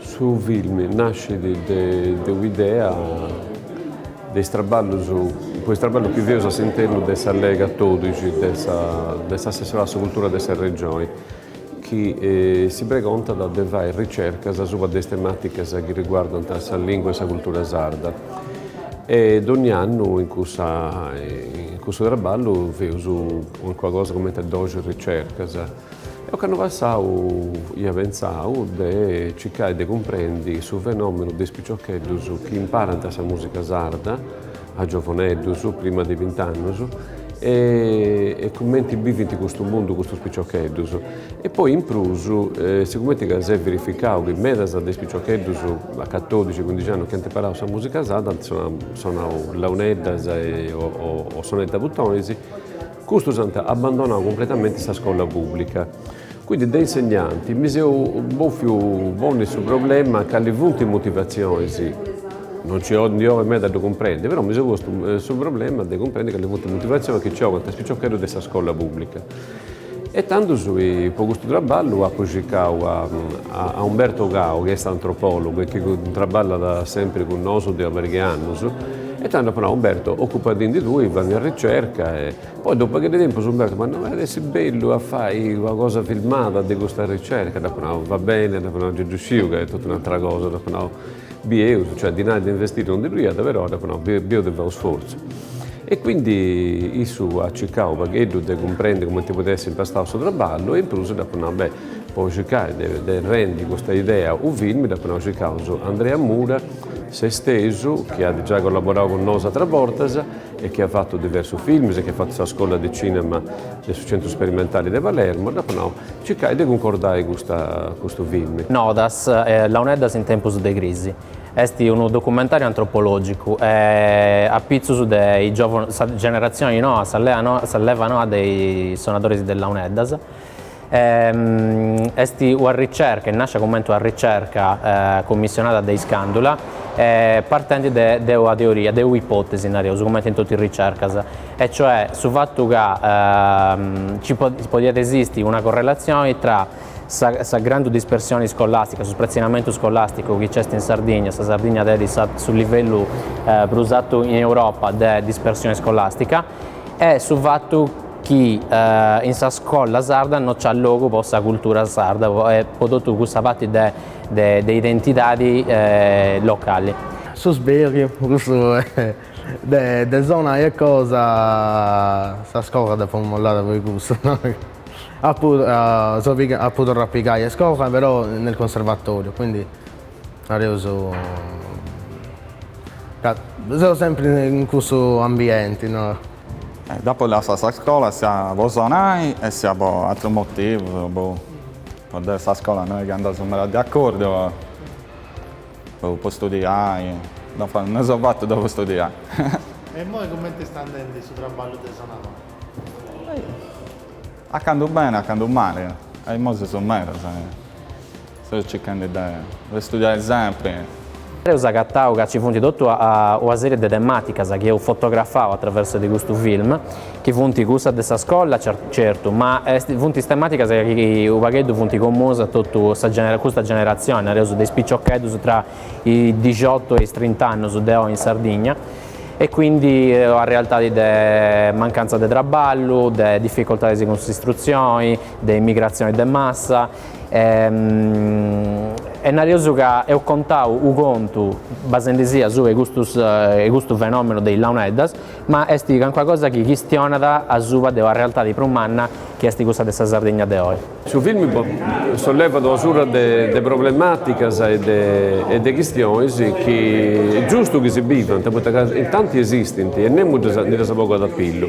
Su film nascit de un'idea de is traballus, po is traballus chi feus a s'internu de sa Lei catodixi de s'Assessorau a sa Cultura de sa Regioni chi si pregontat de fai ricercas asuba de is tematicas chi riguardant sa lingua e sa cultura sarda. E dogni annu in cussa in cussu traballu feus calincuna cosa cumenti doxi ricercas. Deu ocannu passau ia pentzau de circai de cumprendi su fenomenu de is piciocheddus chi imparant sa musica sarda a giovoneddus, prima de bint'annus, e e cumenti bivint custu mundu custus piciocheddus. E poi in prus, sigumenti ca s'est verificau chi medas de is piciocheddus a catodixi cuindixi annus chi ant imparau sa musica sarda ant sonau sonau launeddas e o sonetu a butonis, Custus ant abbandonadu cumpletamenti sa scola pùblica. Quindi de insegnanti mi seu bòfiu ponni su problema cali funt is motivatzionis, non nci ndi 'olit meda a ddu cumprendi, però mi seu postu su problema de cumprendi cali funt is motivatzionis chi nci 'ogant is piciocheddus de sa scola pùblica. E tandus po custu traballu apu circau a Umberto Cao chi est antropòlogu e chi traballat sempri cun nosu de una pariga 'e annus, E tando apo nau, Umberto, ocupadindi tui, fai sa ricerca e. Poi dopu pagheddu 'e tempus Umberto m'at nau, iat essi bellu a fai una cosa filmada de custa ricerca, dd'apo nau, va bene, dd'apo nau, già ddu sciu ca est totu un'atera cosa, dd'apo nau, bieus, cioè dinari de investiri non ndi ddu iat, però dd'apo nau, bieus de fai u' sforzu. E quindi issu at circau u' pagheddu de cumprendi cumenti podiat essi impostau su traballu e in prus dd'apu nau, beh, po circai de rendi custa idea u' film dd'apu nau circaus Andrea Mura, Sestesu, chi at giai collaborau cun nosu atras bortas e chi at fatu diversus films e chi at fatu sa scola de cinema de su Centru Sperimentali de Palermo, dd'apu nau, circai de cuncordai custa custu film. Nodas, launeddas in tempus de crisi est unu documentàriu antropològicu e a pitzus de is giòvunus, sa generatzioni noa, sa leva noa de is sonadoris de launeddas, Est una ricerca, est nàscia comente una ricerca commissionada de Iscandula, partendi de una teoria, de un'ipotesi nareus, comente in totu is ricercas, e cioè su fatu ca nci podiat esisti una correlatzioni tra sa grandu dispersioni scolastica, su spratzinamentu scolasticu chi nci est in Sardigna, sa Sardigna tenit su livellu prus artu in Europa de dispersioni scolastica, e su fatu chi in sa scola sarda no c'at logu po sa cultura sarda e po totu cussa parti de de identidadi locali. Su sberiu cussu de de sonai e cosa sa scola dd'apu mollada puru cussu no apu seu piga apu torrau a pigai a iscola però nel conservatoriu quindi nareus ca seu sempri in cussu ambienti no Dd'apo lassada sa scola sia po sonai e sia po atrus motivus, boh, deo e sa scola no est chi andaus meda de acordu, boh, po studiai, no fa, no seu fatu deo po studiai. E imoi cumenti est andendi su traballu de sonadori? A candu beni, a candu mali, e imoi seus medas. Seu circende de de studiare sempre. Eus agatau ca ci funt totu una sèrie de temàticas chi eus fotografau a traversu de custu film, chi funt cussas de sa scola, certu, ma est funt is temàticas chi u' pagheddu funt comunas a totu sa genera custa generatzioni, nareus de is piciocheddus tra i dixottu e is trint'annus de oi in Sardigna, e quindi una realtadi de mancantza de traballu, de difficoltadis cun s'istrutzioni, de emigratzioni de massa. e nareus ca eus contau u contu basendi·sì asuba 'e custu fenomenu de is launeddas, ma est calincuna cosa chi chistionat asuba de una realtadi prus manna chi est cussa de sa Sardigna de oi. Su filmu sollevat una surra de problematicas e de chistionis chi est giustu chi si biant, poita ca in tanti esistint e nemus ndi ddas bogat a pillu.